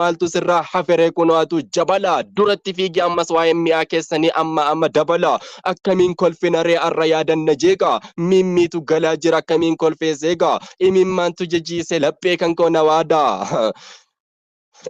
maaltu sirraa haferee kunoo atu jabala duratti fiigi ammas waa'een mi'aa keessanii amma amma dabala akkamiin kolfina ree arra yaadanna jeeqa miimmiitu galaa jira akkamiin kolfee seeqa imimmaantu jajiise laphee kan koo na waada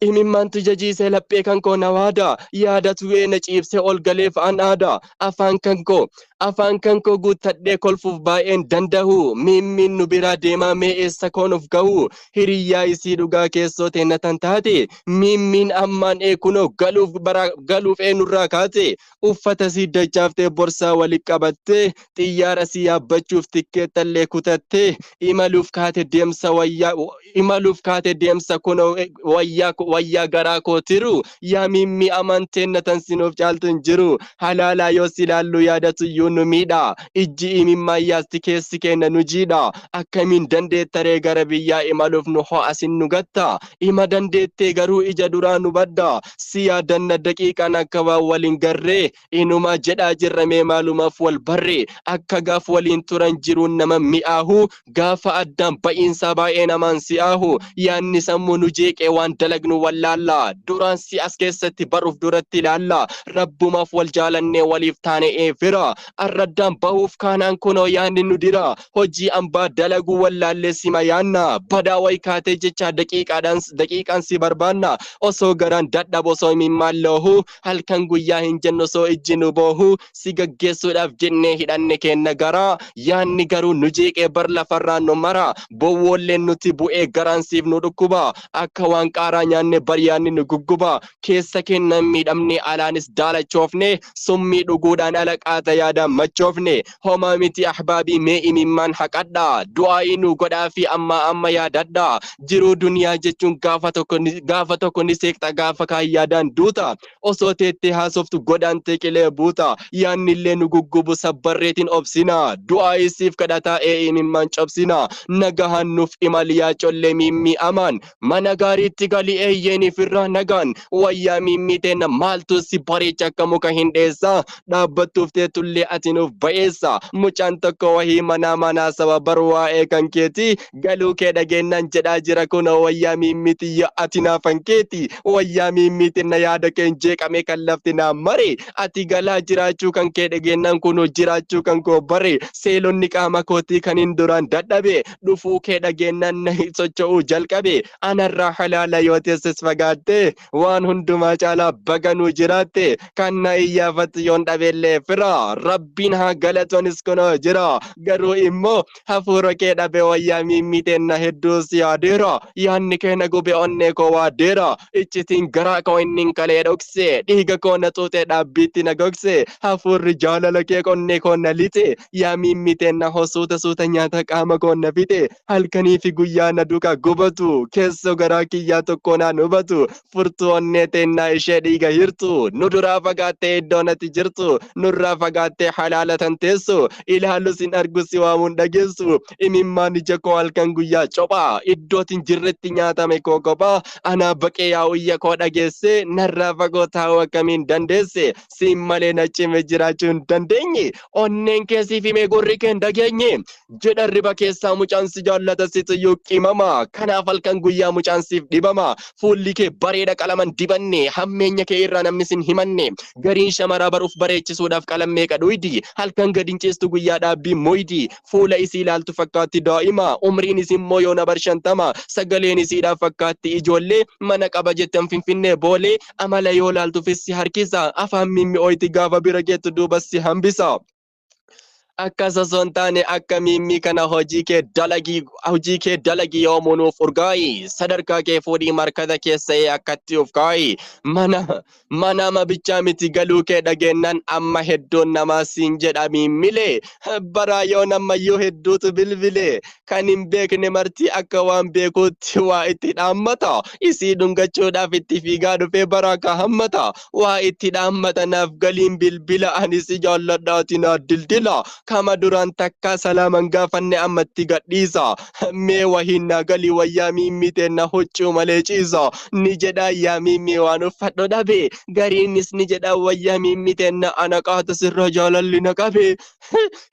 imimmaantu jajiise laphee kan koo na waada yaada tu'ee na ciibsee ol galee fa'aan aada afaan kan koo afaan kan koo guuttadhee kolfuuf baay'een danda'u miimmiin nu biraa deemaa mee eessa koonuuf ga'u hiriyyaa isii dhugaa keessoo teenna tan taate miimmiin ammaan ee kunoo galuuf baraa galuuf eenurraa kaate uffata sii dachaaftee borsaa wali qabattee xiyyaara sii yaabbachuuf tikkeettallee kutattee imaluuf kaate deemsa wayyaa imaluuf kaate deemsa kunoo wayyaa wayyaa garaa koo tiruu yaa miimmi amanteen natan sinuuf caaltu hin jiru halaalaa yoo si ilaallu yaadatu iyyuu nu miidha ijji imimmaa yaasti keessi keenna nu jiidha akkamiin dandeettaree gara biyyaa imaluuf nu ho'asin nu gatta ima dandeettee garuu ija duraa nu badda si yaadanna daqiiqaan akka waan wal hin garree inumaa jedhaa jirra mee maalumaaf wal barre akka gaaf waliin turan jiruun nama mi'aahu gaafa addaan ba'iinsaa baay'ee namaan si'aahu yaanni sammuu nu jeeqee waan dalagnu wallaalla duraan si as keessatti baruuf duratti ilaalla rabbumaaf wal jaalannee waliif taane ee fira arraddaan bahuuf kaanaan kunoo yaanni nu dira hojii ambaa dalaguu wallaallee sima yaanna badaa wayi kaatee jechaa daqiiqaadhaan daqiiqaan si barbaanna osoo garaan dadhabo osoo imimmaan loohu halkan guyyaa hin jennu osoo ijji nu boohu si gaggeessuudhaaf jennee hidhanne keenna garaa yaanni garuu nu jeeqee bar lafarraa nu mara bowwoolleen nuti bu'ee garaan siif nu dhukkuba akka waan qaaraa nyaanne bar yaanni nu gugguba keessa keennan miidhamne alaanis daalachoofne summii dhuguudhaan ala qaata yaadaan machoofne homaa miti ahbaabii mee imimmaan haqadha du'aa'ii nuu godhaa fi amma amma yaadadha jiruu duniyaa jechuun gaafa tokko ni- gaafa tokko ni seeqxa gaafa kaan yaadaan duuta osoo teettee haasoftu godaantee qilee buuta yaannillee nu guggubu sabbarreetiin obsina du'aa'ii siif kadhataa ee imimmaan cobsina nagahaan nuuf imali yaa collee miimmii amaan Mana gaariitti gali eeyyeen ifirraa nagaan wayyaa miimmii teenna maaltu si bareecha akka muka hin dheessa dhaabbattuuf teettullee ati nuuf ba'eessa mucaan tokko wahii manaa manaa saba bar waa'ee kan keeti galuu kee dhageennaan jedhaa jira kunoo wayyaa miimmii tiyya ati naafan keeti wayyaa miimmii tenna yaada keen jeeqamee kan lafti naa mare ati galaa jiraachuu kan kee dhageennaan kunoo jiraachuu kan koo bare seelonni qaama kootii kan hin duraan dadhabe dhufuu kee dhageennan nahi socho'uu jalqabe anarraa halaala yoo teessis fagaatte waan hundumaa caalaa baganuu jiraatte kan na iyyaafatu yoon dhabeellee fira rabbiin haa galatonis kunoo jira garuu immoo hafuura kee dhabe wayyaa miimmiiteen na hedduu si yaadeera yaanni kee na gube onnee koo waadeera iccitiin garaa koo innin kalee dhokse dhiiga koo na xuuxee dhaabbiitti na gogse hafuurri jaalala kee qonnee koo na lixe yaa miimmii teenna hoo suuta suuta nyaata qaama koo na fixe halkanii fi guyyaa na duka gubatu keessoo garaa kiyyaa tokkoo naan hubatu furtuu onnee teennaa ishee dhiiga hirtu nu duraa fagaattee iddoo natti jirtu nurraa fagaattee halaala tan teessu ilaalus hin argu si waamuun dhageessu imimmaan ija koo halkan guyyaa copha iddootiin jirretti nyaatame koo kophaa anaa baqee yaa uyya koo dhageesse narraa fagoo taa'uu akkamiin dandeesse Siin malee na cime jiraachuu hin dandeenye. Onneen kee siif himee gurri kee hin dhageenye. Jedha riba keessaa mucaan si jaallata situyyuu qimama. Kanaaf halkan guyyaa mucaan siif dhibama. Fuulli kee bareeda qalaman dibanne. Hammeenya kee irraa namni sin himanne. Gariin shamaraa baruf bareechisuudhaaf qalam meeqa dhuydi. Halkan gad hin ciistu guyyaa dhaabbii moydi. Fuula isii ilaaltu fakkaatti daa'ima. Umriin isin moo yoona bar shantama. Sagaleen isiidhaaf fakkaatti ijoollee. Mana qaba jettan finfinnee boolee. amala yoo laaltufis si harkisa afaan mimmi'ooyti gaafa bira geettu duubas si hambisa akkas osoo hin taane akka miimmii kana hojii kee dalagii hojii kee dalagii yoomuu nuuf urgaayi sadarkaa kee fuudhii markaza keessa'ee akkatti of kaayi mana manaama bichaa miti galuu kee dhageennan amma hedduun namaa siin jedha miimmilee baraa yoon ammayyuu hedduutu bilbilee kan hin beekne marti akka waan beekuutti waa itti dhaammata isii dhungachuudhaaf itti fiigaa dhufee bara akka hammata waa itti dhaammata naaf galiin bilbila ani si jaalladhaati naa dildila kama duraan takkaa salaaman gaafanne ammatti gadhiisa mee wahiin naa galii wayyaa miimmii teenna huccuu malee ciisa ni jedhaa yaa miimmii waan uffadhu dhabe gariinis ni jedhaa wayyaa miimmii teenna ana qaata sirra jaalalli na qabe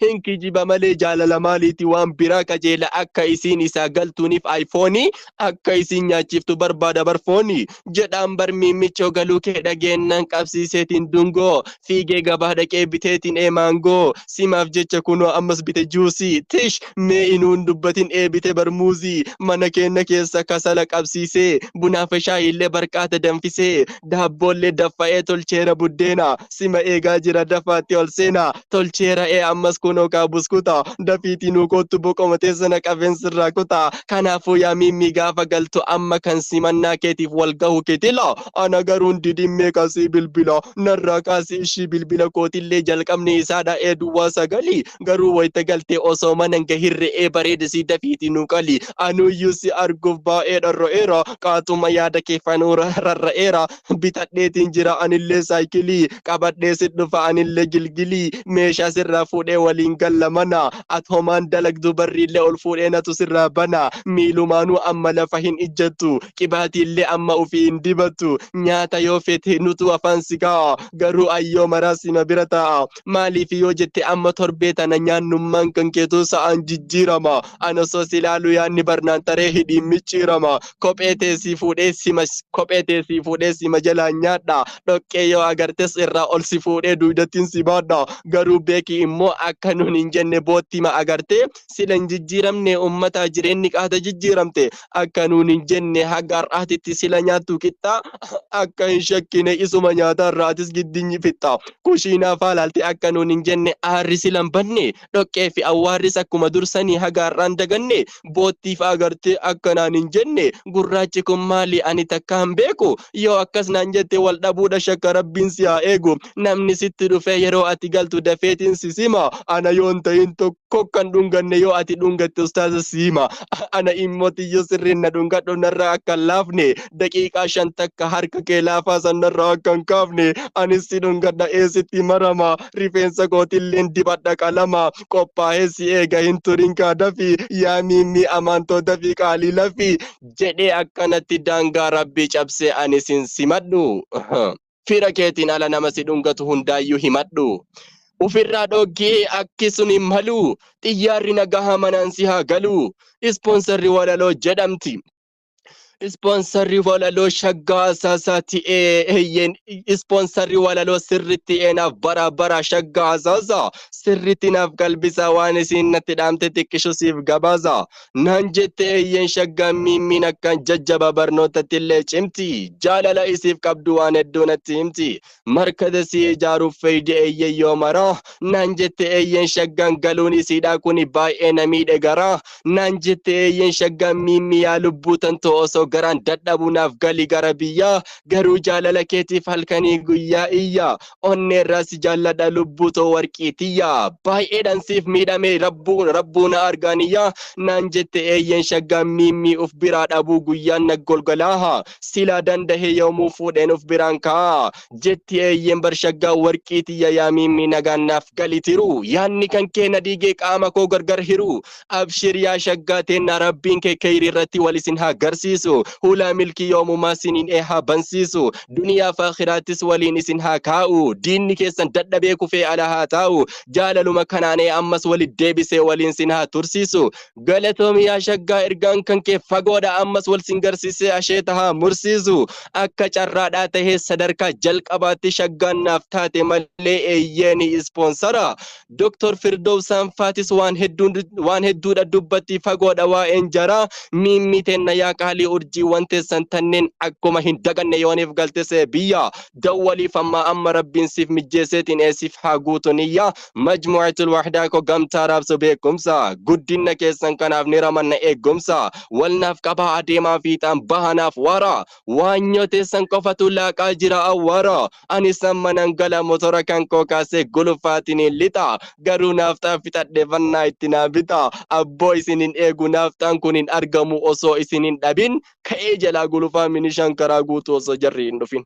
hin kijiba malee jaalala maaliiti waan biraa qajeela akka isiin isaa galtuuniif ayfoonii akka isiin nyaachiftu barbaada barfoonii jedhaan bar miimmichoo galuu kee dhageennan qabsiiseetiin dungoo fiigee gabaa dhaqee biteetiin ee maangoo simaaf jecha kunoo ammas bite juusii tish mee inuun dubbatin ee bite barmuuzii mana keenna keessa kasala qabsiisee bunaafe shaayiillee barqaata danfisee daabboollee daffa'ee tolcheera buddeena sima eegaa jira dafaatti ol seena tolcheera ee ammas kunoo kaa buskuta dafiitii nuu koottu boqoma teessana qabeen sirraa kuta kanaafuu yaa miimmii gaafa galtu amma kan simannaa keetiif wal gahu kitila ana garuun didimmee kasii bilbila narraa kaasii ishii bilbila kootillee jalqabni isaadha ee duwwaa sagalii garuu wayita galtee osoo manan gahin re'ee bareedisii dafiitii nuu qali anuuyyuu si arguuf baay'ee dharra'eera qaatuma yaada kee fanuura rarra'eera bitadheetiin jira anillee saayikilii qabadhee si dhufa anillee gilgilii meeshaa sirraa fuudhee waliin galla mana at homaan dalagdu barriillee ol fuudhee natu sirraa bana miilumaanuu amma lafa hin ijjattu qibaatiillee amma ufii hin dibattu nyaata yoo fete nutu afaan si kaa'a garuu ayyoo maraa sima bira taa'a maaliif yoo jette amma torbee tana nyaannummaan kan keetuu sa'aan jijjiirama anosoo si laalu yaanni barnaan taree hidhiin micciirama kophee tee sii fuudhee sima kophee tee sii fuudhee sima jalaa nyaadha dhoqqee yoo agartes irraa ol si fuudhee duudattiin si baadha garuu beeki immoo akka nun hin jenne boottima agartee sila hin jijjiiramne ummataa jireenni qaata jijjiiramte akka nun hin jenne haga har'aatitti sila nyaattu qixxaa akka hin shakkine isuma nyaataa irraatis giddinyi fixxa kushiinaa faalaalte akka nun hin jenne aarri sila hin banne dhoqqee fi awwaarris akkuma dur sanii haga har'aan daganne boottii fa'aa gartee akka naan hin jenne gurraachi kun maali ani takka hin beeku yoo akkas naan jette wal dhabuudha shakka rabbiin si haa eegu namni sitti dhufee yeroo ati galtu dafeetiin si sima ana yoon ta'in tokko kan dhunganne yoo ati dhungatte ustaaza si hima ana immoo tiyyoo sirriin na dhungadhu narraa akka hin laafne daqiiqaa shan takka harka kee laafaa san narraa akka hin kaafne anis si dhungadha eessitti marama rifeensa kootilleen dibadha qalama qophaa'ee si eega hin turin kaadafi yaa miimmi amantootafi qaalii lafi jedhee akkanatti daangaa rabbii cabsee ani sin simadhu fira keetiin ala nama si dhungatu hundaayyuu himadhu ufirraa dhoggee akki sun hin malu xiyyaarri nagahaa manaan si haa galu ispoonsarri walaloo jedhamti Ispoonsarri walaloo shaggaa asaasaa ti'ee eeyyeen ispoonsarri walaloo sirri ti'ee naaf bara bara shaggaa asaasaa sirritti naaf qalbisaa waan isiin natti dhaamte xiqqisho siif gabaasa naan jette eeyyeen shaggaa miimmiin akkaan jajjaba barnootatti illee cimti jaalala isiif qabdu waan hedduu natti himti jiraattu. Markaza sii ijaaruuf feyde eyyen yoo maraa Naan jette eyyen shaggan galuun isiidhaa kuni baay'ee na miidhe garaa Naan jette eyyen shaggan Miimmi yaa lubbuu tantoo osoo garaan dadhabuu naaf gali gara biyyaa Garuu jaalala keetiif halkanii guyyaa iyyaa Onneerraa si jaalladha lubbuu too warqii tiyyaa Baay'eedhan siif miidhamee rabbuu rabbuu na argaa niyyaa Naan jette eyyen shaggan Miimmi uf biraa dhabuu guyyaan na golgolaaha Silaa dandahee yoomuu fuudheen of biraan kaa'a. Jetti eeyyeen bar shaggaa warqii tiyya yaa miimmii nagaan naaf gali tiruu. Yaanni kan kee na diigee qaama koo gargar hiruu. Abshir yaa shaggaa teenna rabbiin kee keyrii irratti wal isin haa garsiisu. Hulaa milkii yoomumaa siniin ee haa bansiisu. Duniyaaf aakhiraattis waliin isin haa kaa'u. Diinni keessan dadhabee kufee ala haa taa'u. Jaalaluma kanaan ee ammas walitt deebisee waliin sin haa tursiisu. Galatoomi yaa shaggaa ergaan kan kee fagoodha ammas wal sin garsiisee asheeta haa mursiisu akka carraadhaa tahee sadarkaa jalqabaatti shaggaan naaf taate malee eeyyeeni ispoonsara Dr. Firdow Saanfaatis waan hedduun waan hedduudha dubbatti fagoodha waa'een jaraa miimmii teenna yaa qaalii urjiiwwan teessan tanneen akkuma hin daganne yooniif galtesee biyya dawwaliif ammaa amma rabbiin siif mijjeeseetiin eesiif haa guutu niyyaa Majmu'atul Wahdaa ko gamtaa raabsu beekumsa Guddinna keessan kanaaf ni ramanna eeggumsa Wal naaf qabaa adeemaa fiixaan baha naaf wara Waanyoo teessan qofatu laaqaa jira awwaara Anis amma nan gala motora kan koo kaasee gulufaatiniin lixa Garuu naafxaa fixadhe fannaa itti naa bita Abboo isin hin eegu naafxaan kun hin argamu osoo isin hin dhabin Ka'ee jalaa gulufaa minishaan karaa guutuu osoo jarri hin dhufin